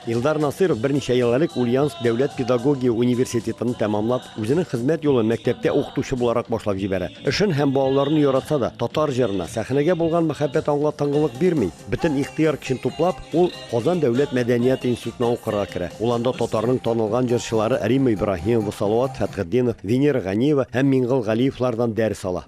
Илдар Насыров берничә ел элек Ульяновск дәүләт педагогия университетын тәмамлап, үзенең хезмәт юлын мәктәптә укытучы буларак башлап җибәрә. Эшен һәм балаларын яратса да, татар җырына, сәхнәгә булган мәхәббәт аңга тынгылык бирми. Бөтен ихтыяр көчен туплап, ул Казан дәүләт мәдәният институтына укырга керә. Ул анда татарның танылган җырчылары Римма Ибраһимова, Салават Фәтхетдинов, Венера Ганиева һәм Миңгол Галиевлардан дәрес ала.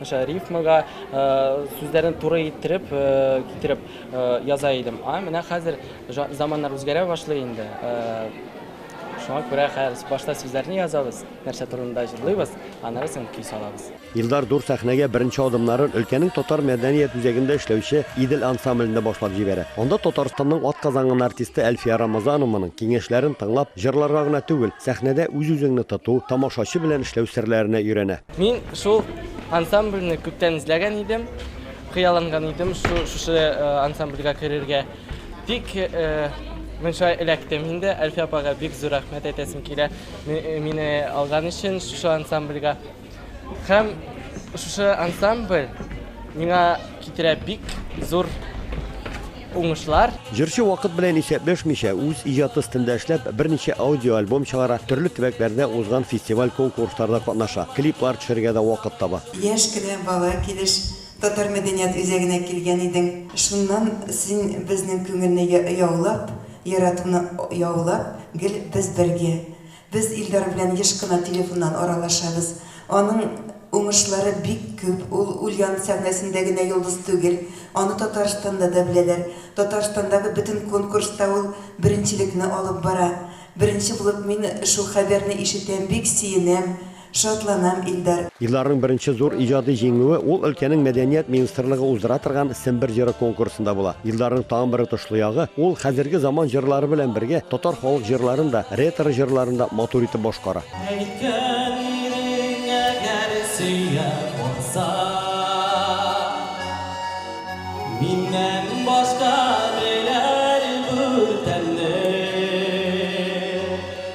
Мәсәлән, рифмага сүзләрне туры иттереп, китереп яза идем. А менә хәзер заманнар үзгәрә башлый инде. Шуңа күрә хәзер башта сүзләрне язабыз, нәрсә турында җырлыйбыз, аннары соң көй салабыз. Илдар зур сәхнәгә беренче адымнарын өлкәнең татар мәдәният үзәгендә эшләүче Идел ансамблендә башлап җибәрә. Анда Татарстанның атказанган артисты Әлфия Рамазанованың киңәшләрен тыңлап, җырларга гына түгел, сәхнәдә үз-үзеңне тоту, тамашачы белән эшләү серләренә өйрәнә. Мин шул ансамбльне күптән эзләгән идем, хыялланган идем шу, шушы э, ансамбльгә керергә. Тик э, мин шулай эләктем инде. Әлфия апага бик зур рәхмәт әйтәсем килә. Ми- э, Мине алган өчен шушы ансамбльгә. Һәм шушы ансамбль миңа китерә бик зур Уңышлар! Җырчы вакыт белән исәпләшмичә, үз иҗаты өстендә эшләп, берничә аудиоальбом чыгара, төрле төбәкләрдә узган фестиваль-конкурсларда катнаша, клиплар төшерергә дә вакыт таба. Яшь кенә бала килеш Татар мәдәният үзәгенә килгән идең. Шуннан син безнең күңелне яулап, яратуны яулап, гел без бергә. Без Илдар белән еш кына телефоннан аралашабыз. Аның уңышлары бик күп, ул Ульян сәхнәсендә генә йолдыз түгел, аны Татарстанда да беләләр. Татарстандагы бөтен конкурста ул беренчелекне алып бара. Беренче булып мин шул хәбәрне ишетәм, бик сөенәм. Шатланам, Илдар. Илдарның беренче зур иҗади җиңүе ул өлкәнең мәдәният министрлыгы уздыра торган Сембер җыры конкурсында була. Илдарның тагын бер отышлы ягы, ул хәзерге заман җырлары белән бергә татар халык җырларын да, ретро җырларын да матур итеп башкара. Әйткән ирең әгәр сөя калса, Миннән башка беләр бу тәмне.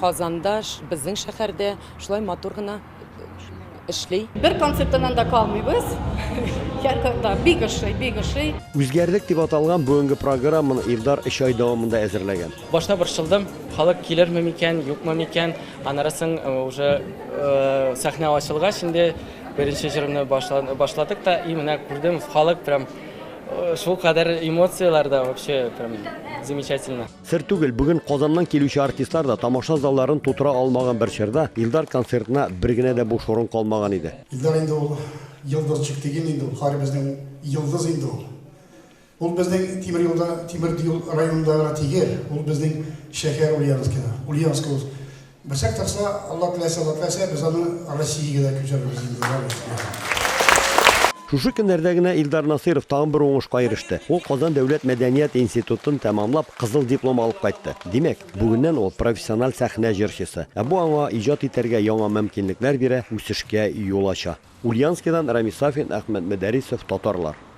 Казанда, безнең шәһәрдә шулай матур гына эшли. Бер концерттан да калмыйбыз. Һәркайда бик ошый, бик ошый. Үзгәрдек дип аталган бүгенге программаны Илдар өч ай дәвамында әзерләгән. Башта борчылдым, халык килерме микән, юкмы микән. Аннары соң уже сәхнә ачылгач инде беренче җырны башладык та, и менә күрдем, халык прям шулкадәр эмоцияләрдә, вообще прям замечательно. Сер түгел, бүген Казаннан килүче артистлар да тамаша залларын тутыра алмаган бер чорда Илдар концертына бер генә дә буш урын калмаган иде. Илдар инде ул йолдызчик диген инде ул, һәребезнең йолдыз инде ул. Ул безнең тимер юлда, тимер юл районында гына тигел, ул безнең шәһәр Ульяновскида, Ульяновск ул. Бәшәк ташла, Алла теләсә, Алла теләсә, без аны Россиягә дә күчерербез инде, Алла рәхмәт яусын. Шушы көннәрдә генә Илдар Насыйров тагын бер уңышка иреште. Ул Казан дәүләт мәдәният институтын тәмамлап, кызыл диплом алып кайтты. Димәк, бүгеннән ул, профессиональ сәхнә җырчысы. Ә бу аңа иҗат итәргә яңа мөмкинлекләр бирә, үсешкә юл ача. Ульяновскидан Рамис Сафин, Әхмәт Мөдәрисов, Татарлар.